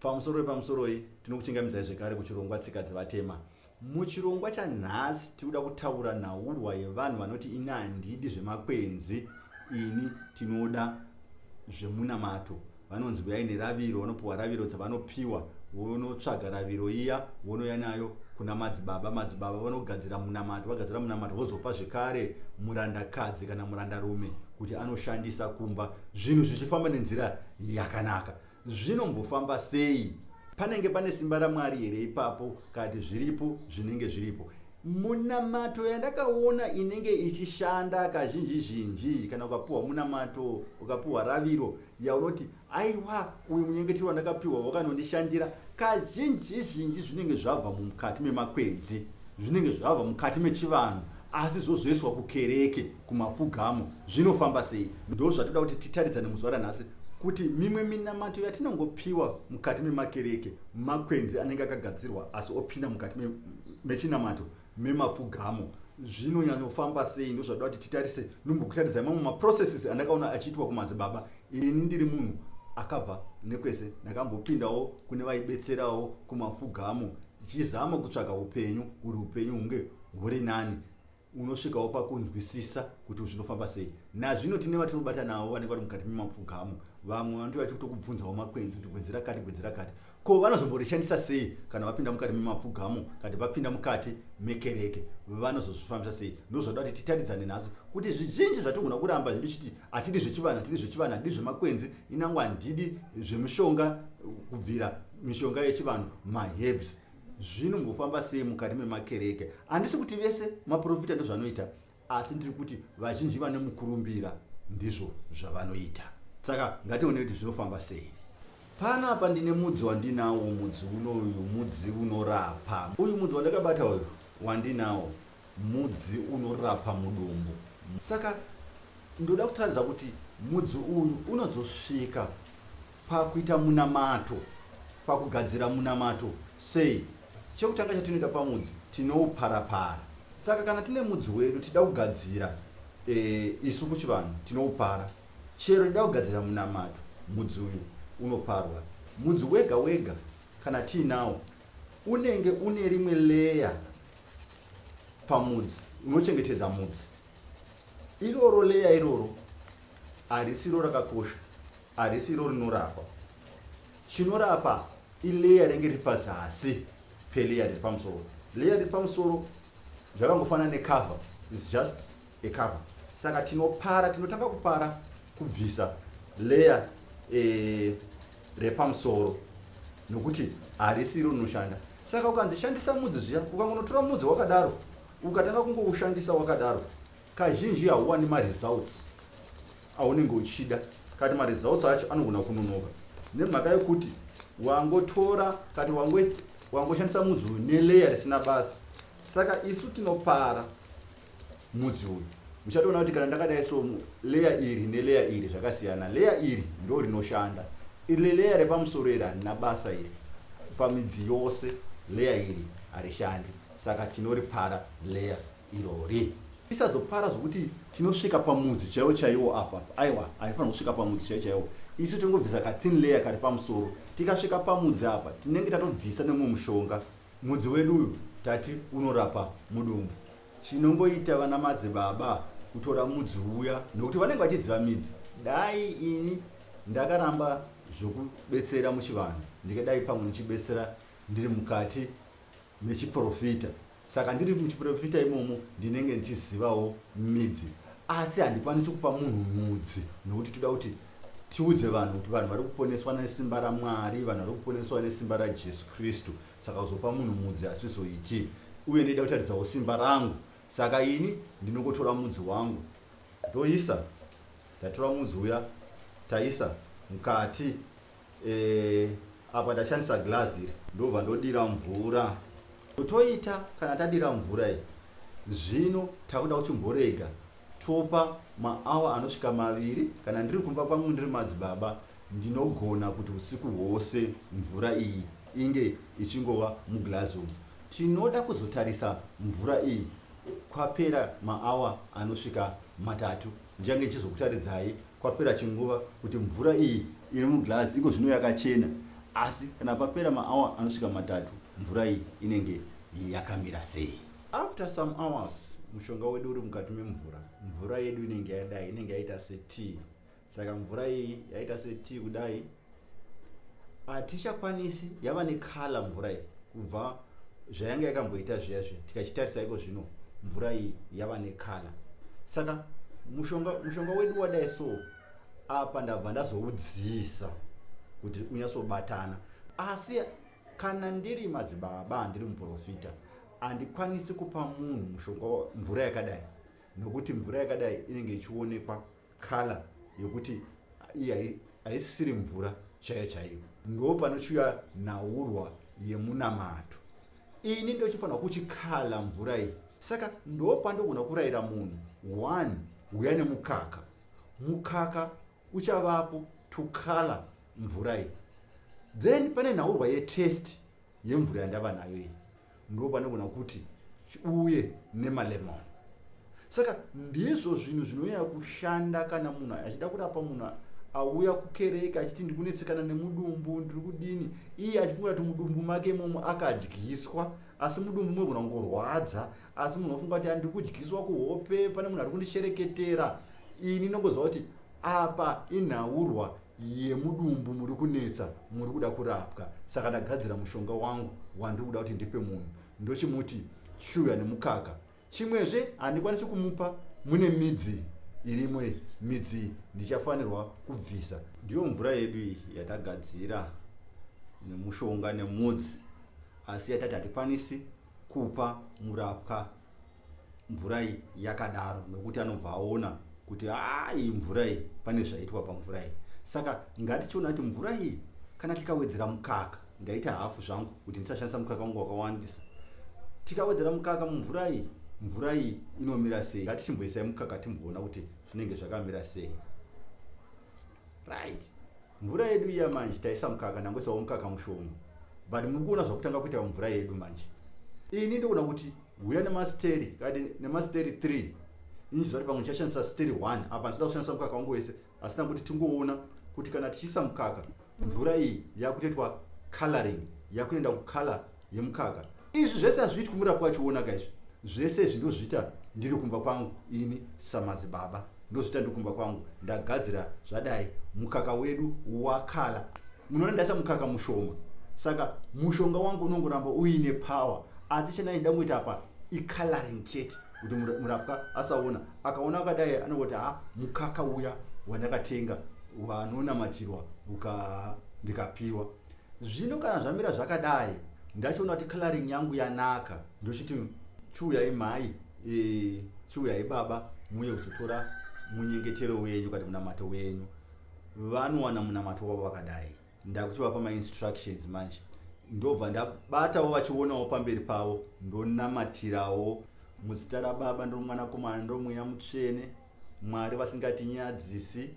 Pamusoro wepamusoroi tinokuchingamidzai zvekare kuchirongwa tsika dzevatema. Muchirongwa chanhasi tikuda kutaura nhaurwa yevanhu vanoti ini handidi zvemakwenzi ini tinoda zvemunamato vanonzi vuyai neraviro vanopiwa raviro dzavanopiwa vonotsvaga raviro iya vonoya nayo kuna madzibaba madzibaba vanogadzira munamato vagadzira munamato vozopa zvekare murandakadzi kana murandarume kuti anoshandisa kumba zvinhu zvichifamba nenzira yakanaka Zvinombofamba sei? Panenge pane simba raMwari here ipapo kati zviripo zvinenge zviripo? Munamato yandakaona inenge ichishanda kazhinji zhinji kana ukapiwa munamato ukapiwa raviro yaunoti aiwa uyu munyengetero wandakapiwa wakanondishandira kazhinji zhinji zvinenge zvabva mukati memakwenzi zvinenge zvabva mukati mechivanhu asi zvozoiswa kukereke kumapfugamo zvinofamba sei ndo zvatoda kuti titaridzane muzuva ranhasi kuti mimwe minamato yatinongopiwa mukati memakereke makwenzi anenge akagadzirwa asi opinda mukati mechinamato memapfugamo zvinonyanyofamba sei ndozvatoda kuti titarise nombokutaridza mamwe maprocesses andakaona achiitwa kumadzibaba ini ndiri munhu akabva nekwese ndakambopindawo kune vaibetserawo kumapfugamo tichizama kutsvaga upenyu kuti upenyu hunge huri nani unosvikawo pakunzwisisa kuti zvinofamba sei nazvino tine vatinobata navo vanenge vari mukati memapfugamo vamwe vanoti vachi kutokubvunzawo makwenzi kuti gwenzi rakati gwenzi rakati ko vanozomborishandisa sei kana vapinda mukati memapfugamo kati vapinda mukati mekereke vanozozvifambisa sei ndozvada kuti titaridzane nhasi kuti zvizhinji zvatigona kuramba zvedu chiti hatidi zvechivanhu hatidi zvechivanhu hatidi zvemakwenzi inango handidi zvemushonga kubvira mishonga yechivanhu mahebs zvinombofamba sei mukati memakereke handisi kuti vese maprofita ndozvanoita asi ndiri kuti vazhinji vane mukurumbira ndizvo zvavanoita saka ngatione kuti zvinofamba sei pano apa ndine mudzi wandinawo mudzi uno uyu mudzi unorapa uyu mudzi wandakabata uyu wandinawo mudzi unorapa mudumbu saka ndoda kutaridza kuti mudzi uyu unozosvika Pakuita munamato, pakugadzira munamato, sei? Chekutanga chatinoita pamudzi, tinoupara-para. Saka kana tine mudzi wedu tida kugadzira, e, isu kuchivanhu tinoupara. Chero tida kugadzira munamato, mudzi uyu unoparwa. Mudzi wega wega kana tiinawo unenge une rimwe leya pamudzi unochengetedza mudzi iroro leya iroro harisiro rakakosha harisi iro rinorapa chinorapa ileya renge riri pazasi peleya riri pamusoro leya riri pamusoro zvakangofanana necover is just a cover saka tinopara tinotanga kupara kubvisa leya e, eh, repamusoro nokuti harisi iro rinoshanda saka ukanzi shandisa mudzi zviya ukangonotora mudzi wakadaro ukatanga kungoushandisa wakadaro Kazhinji hauwani maresults aunenge uchida kati maresults acho anogona kunonoka nemhaka yekuti wangotora kati wangoshandisa mudzi uyu neleya risina basa saka isu tinopara mudzi uyu muchatoona kuti kana ndakadai so leya iri neleya iri zvakasiyana leya iri ndo rinoshanda iri leya repamusoro iri harina basa iri pamidzi yose leya iri harishandi saka tinoripara leya irori isazopara zvokuti tinosvika pamudzi chaiwo chaiwo apa aiwa haifanira kusvika pamudzi chaiwo chaiwo isu tingobvisa kathin layer kari pamusoro tikasvika pamudzi apa tinenge tatobvisa nemumwe mushonga mudzi wedu uyu tati unorapa mudumbu chinongoita vana madzi baba kutora mudzi uya nokuti vanenge vachiziva midzi dai ini ndakaramba zvokubetsera muchivanhu ndikadai pamwe ndichibetsera ndiri mukati mechiprofita saka ndiri muchiprofita imomo ndinenge ndichizivawo midzi asi handikwanisi kupa munhu mudzi nokuti toda kuti tiudze vanhu kuti vanhu vari kuponeswa nesimba ramwari vanhu vari kuponeswa nesimba rajesu kristu saka kuzopa munhu mudzi hazvizoiti uye ndoida kutaridzawo simba rangu saka ini ndinongotora mudzi wangu ndoisa ndatora mudzi uya taisa mukati Eh, apa ndashandisa glass iri ndobva ndodira mvura totoita kana tadira mvura iyi zvino takuda kuchimborega topa maawa anosvika maviri kana ndiri kumba kwangu ndiri madzibaba ndinogona kuti usiku hwose mvura iyi inge ichingova muglazi umu tinoda kuzotarisa mvura iyi kwapera maawa anosvika matatu ndichange ichizokutaridzai Kwapera chinguva kuti mvura iyi iri muglass iko zvino yakachena asi kana papera maawa anosvika matatu mvura iyi inenge yakamira sei. After some hours mushonga wedu uri mukati memvura, mvura yedu inenge yadai inenge yaita setea. Saka mvura iyi yaita setea kudai hatichakwanisi yava nekhala mvura iyi kubva zvayanga yakamboita zviya zviya tikachitarisa iko zvino mvura iyi yava nekhala saka mushonga, mushonga wedu wadai so apa ndabva ndazoudzisa kuti unyatsobatana asi kana ndiri madzibaba handiri muprofita handikwanisi kupa munhu mushonga mvura yakadai nokuti mvura yakadai inenge ichionekwa kala yokuti iyi haisisiri mvura chaiyo chaiyo ndo panochiuya nhaurwa yemunamato ini ndochifanira kuchikala mvura iyi saka ndo pandogona kurayira munhu one huya nemukaka mukaka uchavapo to color mvura iyi then pane nhaurwa yetest yemvura yandava nayo iyi ndo panogona kuti uye nemalemon saka ndizvo zvinhu zvinonyanya kushanda kana munhu achida kurapa munhu auya kukereke achiti ndiri kunetsekana nemudumbu ndiri kudini iye achifungira kuti mudumbu make imomo akadyiswa asi mudumbu mogona kungorwadza asi munhu ofunga kuti andikudyiswa kuhope pane munhu ari kundishereketera ini nongoziva kuti apa inhaurwa yemudumbu muri kunetsa muri kuda kurapwa saka ndagadzira mushonga wangu wandiri kuda kuti ndipe munhu ndochimuti shuya nemukaka chimwezve handikwanisi kumupa mune midzi irimo midzi ndichafanirwa kubvisa ndiyo mvura yedu iyi yatagadzira nemushonga nemudzi asi yatati hatikwanisi kupa murapwa mvura iyi yakadaro nokuti anobva aona kuti hayi mvura iyi pane zvaitwa pamvura iyi saka ngatichiona kuti mvura iyi kana tikawedzera mukaka ndaita hafu zvangu kuti ndisashandisa mukaka wangu wakawandisa tikawedzera mukaka mumvura iyi mvura iyi inomira sei ngatichimboisai mukaka timboona kuti zvinenge zvakamira sei right mvura yedu iya manje taisa mukaka nangwe sawo mukaka mushoma but muri kuona zvakutanga kuita mvura yedu manje ini ndikuona kuti huya nemasteri kati nemasteri three ini zivati pamwe ndichashandisa steri one apa ndisida kushandisa mukaka wangu wese asi tanguti tingoona kuti kana tichiisa mukaka mvura iyi yakutoitwa coloring yakuenda kucolor yemukaka izvi zvese hazviitwi murapwa achionaka izvi zvese izvi ndozviita ndiri kumba kwangu ini samadzibaba ndozviita ndiri kumba kwangu ndagadzira zvadai mukaka wedu wakala munoona ndaisa mukaka mushoma saka mushonga wangu unongoramba uine power asi chandaida ngoita apa icoloring chete kuti murapwa asaona akaona akadai anongoti ha mukaka uya wandakatenga wanonamatirwa uka ndikapiwa Zvino kana zvamira zvakadai ndachiona kuti coloring yangu yanaka ndochiti chiuyai mhai e, chiuyai baba muye kuzotora munyengetero wenyu kana munamato wenyu vanowana munamato wavo vakadai ndakutovapa mainstructions manje ndobva ndabatawo vachionawo pamberi pavo ndonamatirawo muzita rababa ndomwanakomana ndomweya mutsvene Mwari vasingatinyadzisi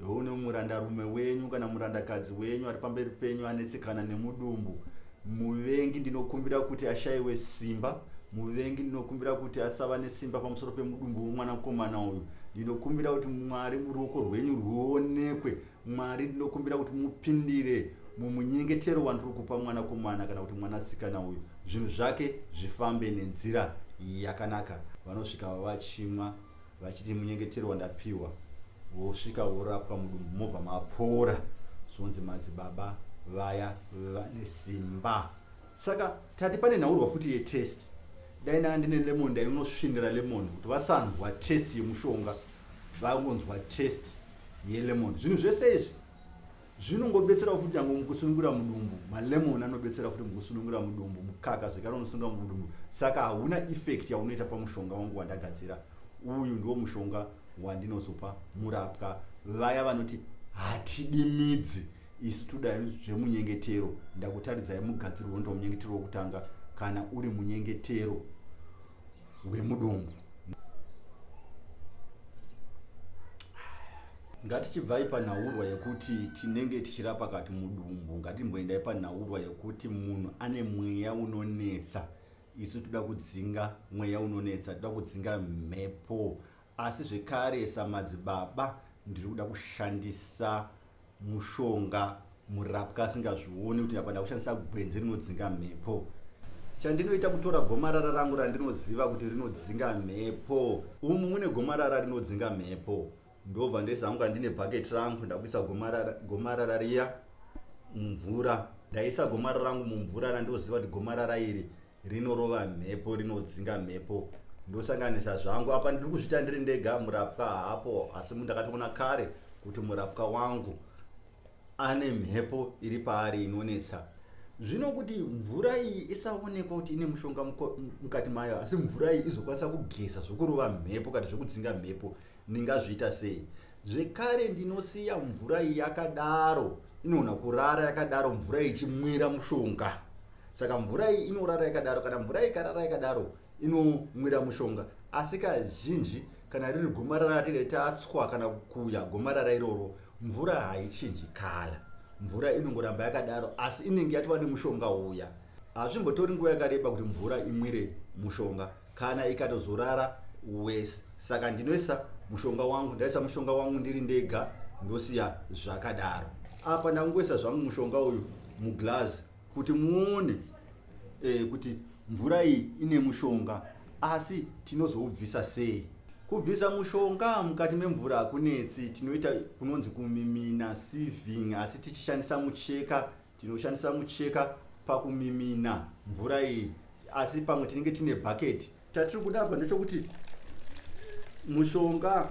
une murandarume wenyu kana murandakadzi wenyu ari pamberi penyu anetsekana nemudumbu muvengi ndinokumbira kuti ashayiwe simba muvengi ndinokumbira kuti asava nesimba pamusoro pemudumbu wemwanakomana uyu ndinokumbira kuti mwari ruoko rwenyu rwuonekwe mwari ndinokumbira kuti mupindire mumunyengetero wandiri kupa mwanakomana kana kuti mwanasikana uyu zvinhu zvake zvifambe nenzira yakanaka vanosvika vavachimwa vachiti munyengetero wandapiwa vosvika vorapwa mudumbu mobva mapora zvonzi madzibaba vaya vane simba saka tati pane nhaurwa futi yetest dai naa ndine lemon ndainosvinira lemon kuti vasanzwa test yemushonga vangonzwa test yelemon zvinhu zvese izvi zvinongobetsera futi nyangwe mukusunungura mudumbu malemon anobetsera futi mukusunungura mudumbu mukaka zvekare unosunungura mudumbu saka hauna effect yaunoita pamushonga wangu wandagadzira uyu ndiwo mushonga wandinozopa murapwa vaya vanoti hatidi midzi isu todai zvemunyengetero ndakutaridzai mugadzirwo ndomunyengetero wokutanga kana uri munyengetero hwemudumbu. Ngatichibvai panhaurwa yekuti tinenge tichirapa kati mudumbu, ngatimboendai panhaurwa yekuti munhu ane mweya unonetsa. Isu toda kudzinga mweya unonetsa, toda kudzinga mhepo Asi zvekare samadzibaba ndiri kuda kushandisa mushonga murapwa asingazvioni kuti apa ndakushandisa gwenzi rinodzinga mhepo chandinoita kutora gomarara rangu randinoziva kuti rinodzinga mhepo umu mune gomarara rinodzinga mhepo ndobva ndoisa hangu kandine bhaketi rangu ndakuisa gomarara, gomarara riya mumvura ndaisa gomarara rangu mumvura randoziva kuti gomarara iri rinorova mhepo rinodzinga mhepo ndosanganisa zvangu apa ndiri kuzviita ndiri ndega murapwa haapo asi ndakatoona kare kuti murapwa wangu ane mhepo iri paari inonetsa zvino kuti mvura iyi isaonekwa kuti ine mushonga mukati mayo asi mvura iyi izokwanisa kugeza zvokurova mhepo kana zvokudzinga mhepo ndingazviita sei zvekare ndinosiya mvura iyi yakadaro inoona kurara yakadaro mvura ichimwira mushonga saka mvura iyi inorara yakadaro kana mvura iyi ikarara yakadaro inomwira mushonga asi kazhinji kana riri gomarara ratiri tatswa kana kuya gomarara iroro mvura haichinji kala mvura inongoramba yakadaro asi inenge yatova nemushonga uya hazvimbotori nguva yakareba kuti mvura imwire mushonga kana ikatozorara wese saka ndinoisa mushonga wangu ndaisa mushonga wangu ndiri ndega ndosiya zvakadaro apa ndangoisa zvangu mushonga uyu muglazi kuti muone e, kuti mvura iyi ine mushonga asi tinozoubvisa sei kubvisa mushonga mukati memvura hakunetsi tinoita kunonzi kumimina siving asi tichishandisa mucheka tinoshandisa mucheka pakumimina mvura iyi asi pamwe tinenge tine bhaketi chatiri kuda apa ndechokuti mushonga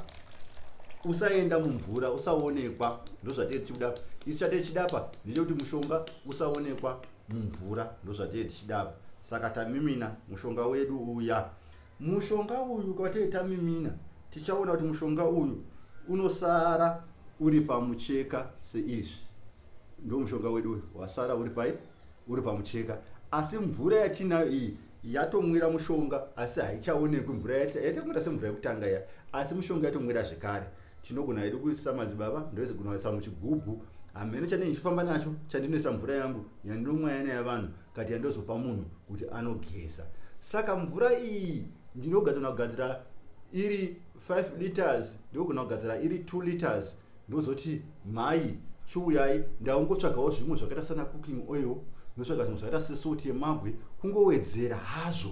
usaenda mumvura usaonekwa ndozvatee tichikuda apa isi chatee tichida apa ndechekuti mushonga usaonekwa mumvura ndozvatee tichida apa saka tamimina mushonga wedu uya mushonga uyu kwatee tamimina tichaona kuti mushonga uyu unosara uri pamucheka seizvi ndo mushonga wedu uyu wasara uri pai uri pamucheka asi mvura yatinayo iyi yatomwira mushonga asi haichaonekwi mvura yaitakunira semvura yekutanga ya asi mushonga yatomwira zvekare tinogona hedu kuisa madzibaba ndoise kunoisa muchigubhu hameno chandine ndichifamba nacho chandinoisa mvura yangu yandinomwa yana yavanhu kati yandozopa munhu kuti anogeza saka mvura iyi ndinogadzana kugadzira iri 5 liters ndogona kugadzira iri 2 liters ndozoti mhai chiuyai ndaungotsvagawo zvimwe zvakaita sana cooking oil ndotsvaga zvimwe zvakaita sesoti yemabwe kungowedzera hazvo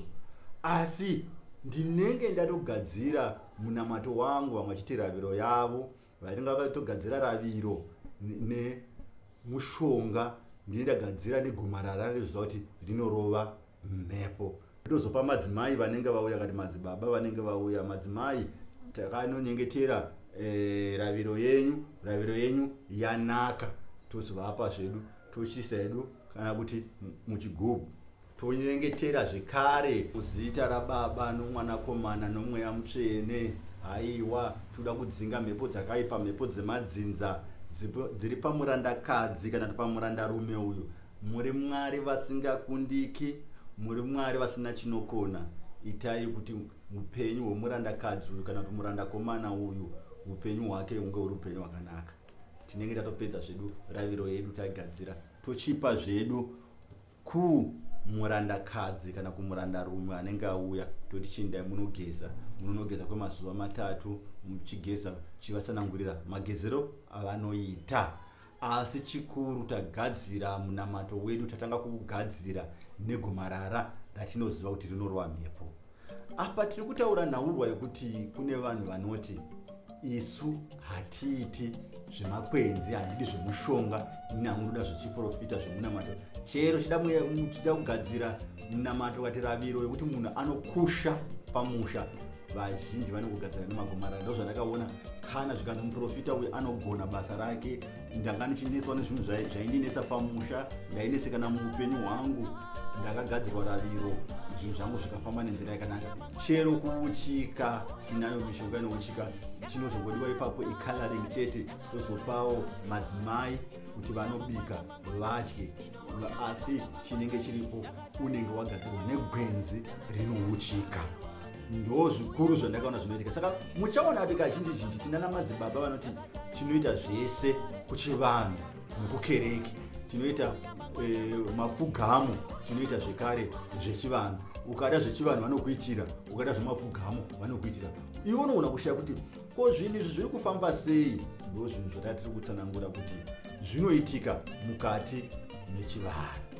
asi ndinenge ndatogadzira munamato wangu vamwe vachiti raviro yavo vainenge vakatogadzira raviro nemushonga ndine ndagadzira negomarara reziva kuti rinorova mhepo ndozopa madzimai vanenge vauya kati madzibaba vanenge vauya madzimai takanonyengetera e, raviro yenyu raviro yenyu yanaka tozovapa zvedu tochisa hedu kana kuti muchigubhu tonyengetera zvekare muzita rababa nomwanakomana nomweya mutsvene haiwa toda kudzinga mhepo dzakaipa mhepo dzemadzinza dziri pamurandakadzi kana kuti pamurandarume uyu Muri Mwari vasingakundiki, muri Mwari vasina chinokona. Itai kuti upenyu hwemurandakadzi uyu kana kuti murandakomana uyu upenyu hwake hunge huri upenyu hwakanaka. Tinenge tatopedza zvedu raviro yedu taigadzira tochipa zvedu ku murandakadzi kana kumurandarume anenge auya toti chindai munogeza munonogeza kwemazuva matatu muchigeza chivatsanangurira magezero avanoita Asi chikuru tagadzira munamato wedu tatanga kuugadzira negomarara ratinoziva kuti rinorova mhepo. Apa tiri kutaura nhaurwa yekuti kune vanhu vanoti isu hatiiti zvemakwenzi handidi zvemushonga ini hamunoda zvechiprofita zvemunamato chero chida kugadzira munamato kati raviro yekuti munhu anokusha pamusha vazhinji vane kugadzira nemagomarara ndo zvandakaona kana zvikanzi muprofita uyu anogona basa rake ndanga ndichinetswa nezvinhu zvaindinetsa pamusha ndainesekana muupenyu hwangu ndakagadzirwa raviro zvinhu zvangu zvikafamba nenzira yakanaka chero kuuchika tinayo mishonga inouchika chinozongodiwa ipapo icoloring chete tozopawo madzimai kuti vanobika vadye asi chinenge chiripo unenge wagadzirwa negwenzi rinouchika ndo zvikuru zvandakaona zvinoitika saka muchaona kuti kazhinji zhinji tinana madzibaba vanoti tinoita zvese kuchivanhu nokukereke tinoita e, mapfugamo tinoita zvekare zvechivanhu ukada zvechivanhu vanokuitira ukada zvemapfugamo vanokuitira ivo unoona kushaya kuti Ko zvinhu izvi zviri kufamba sei? Ndo zvinhu zvatatiri kutsanangura kuti zvinoitika mukati mechivanhu.